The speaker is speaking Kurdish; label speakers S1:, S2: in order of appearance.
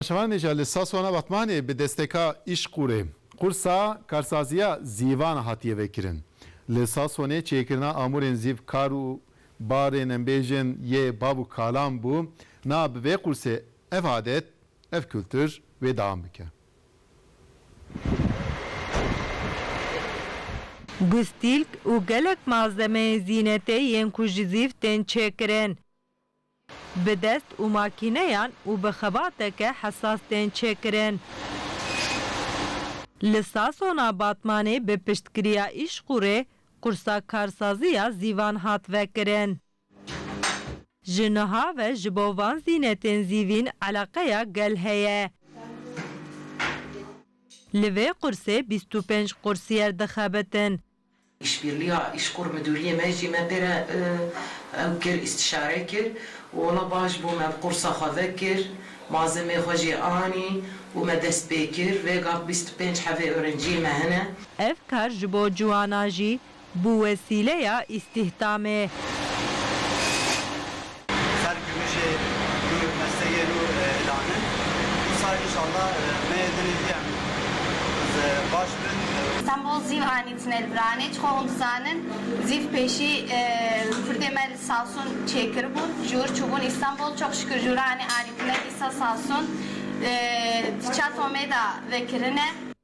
S1: Şevan Nêca li Saswana Batmanê bi desteka Îşqûrê, qursa karsaziya zîvan hatiye vekirin. Li Saswanê çêkirina amûrên zîv kar û barên em bêjin yê bav û kalan bû, na bi vê qursê ev adet, ev kultur wê deam bike. Gustîlk û gelek malzemeyên zînetê yên ku ji zîv tên çêkirin. Bi dest û makîneyan û bi xebateke hesas tên çêkirin. Li Sasona Batmanê bi piştgiriya Îşqûrê qursa karsazî ya zîvan hat vekirin. Ji niha ve ji bo van zînetên zîvîn eleqeya gel heye. Li vê qursê bîst û pênc qursiyer dixebitin Îşbîrliya Îşkur Midûriyê me jî me pê re ew kir, îstîşare kir û wela baş bû me bi qursa xwe vekir, mazemê xwe jê anî û me dest pê kir. Vêgav bîst û pênc hevê ûrenciyê me hene. Ev kar ji bo ciwanan jî bû wesîleya îstîhdamê. Ser gimijê nû mesteyê nû îlan in. Dîsa înşallah meyê dinê zî em baş bin. Stenbol zî anî tine li vir anê. Çixwe hûn dizanin zîv pêşî Kurdê me li Sasûn çêkiribûn jûr çûbûn Îstenbol. Çok şikir jûra anê anî tine dîsa Sasûn di çet omêda vekirine.